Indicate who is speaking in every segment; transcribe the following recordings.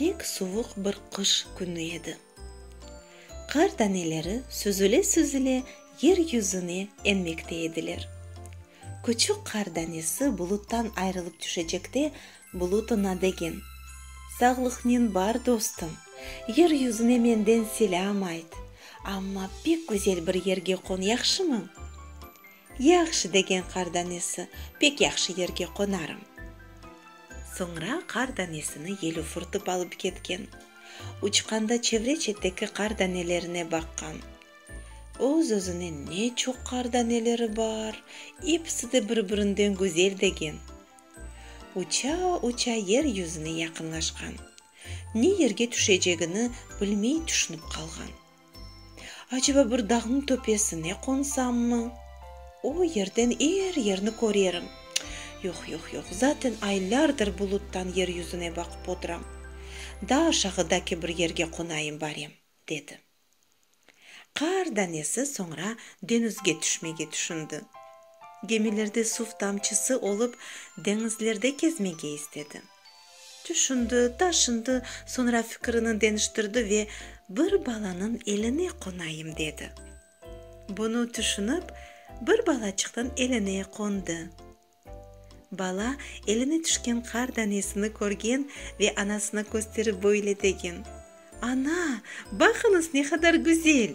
Speaker 1: Pek suvuq bir qış künü edi. Qar taneleri süzüle-süzüle yer yüzüne enmekte ediler. Küçük qar danesi buluttan ayrılıp tüşecekte bulut oña degen, Sağlıqnen bar, dostum, yer yüzüne menden selâm ayt, amma pek güzel bir yerge qon, yahşımı? Yahşı, degen qar danesi, pek yahşı yerge qonarım. Soñra qar danesini yel ufurtıp alıp ketken. Uçqanda çevre-çeteki qar danelerine baqqan. Öz-özüne ne çoq qar daneleri bar, episi de bir-birinden güzel degen. Uça-uça yer yüzüne yaqınlaşqan. Ne yerge tüşecegini bilmey tüşünip qalğan. Aceba bir dağnıñ töpesine qonsammı? O yerden er yerni körerim. Yoq, yoq, yoq, zaten aylardır buluttan yer yüzüne baqıp oturam. Daa aşağıdaki bir yerge qonayım barem, dedi. Qar danesi soñra deñizge tüşmege tüşündi. Gemilerde suv tamçısı olıp, deñizlerde kezmege istedi. Tüşündi, taşındı, soñra fikirini deniştirdi ve, Bir balanıñ eline qonayım, dedi. Bunı tüşünip, bir balaçıqnıñ eline qondı. Bala eline tüşken qar danesini körgen ve anasına kösterip böyle degen, Ana, baqıñız, ne qadar güzel!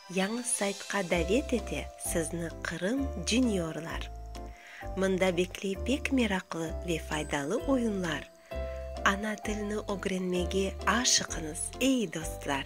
Speaker 1: Yañı saytqa davet ete sizni Qırım Juniorlar. Mında bekley pek meraqlı ve faydalı oyunlar. Ana tilni ögrenmege aşıqıñız, ey dostlar!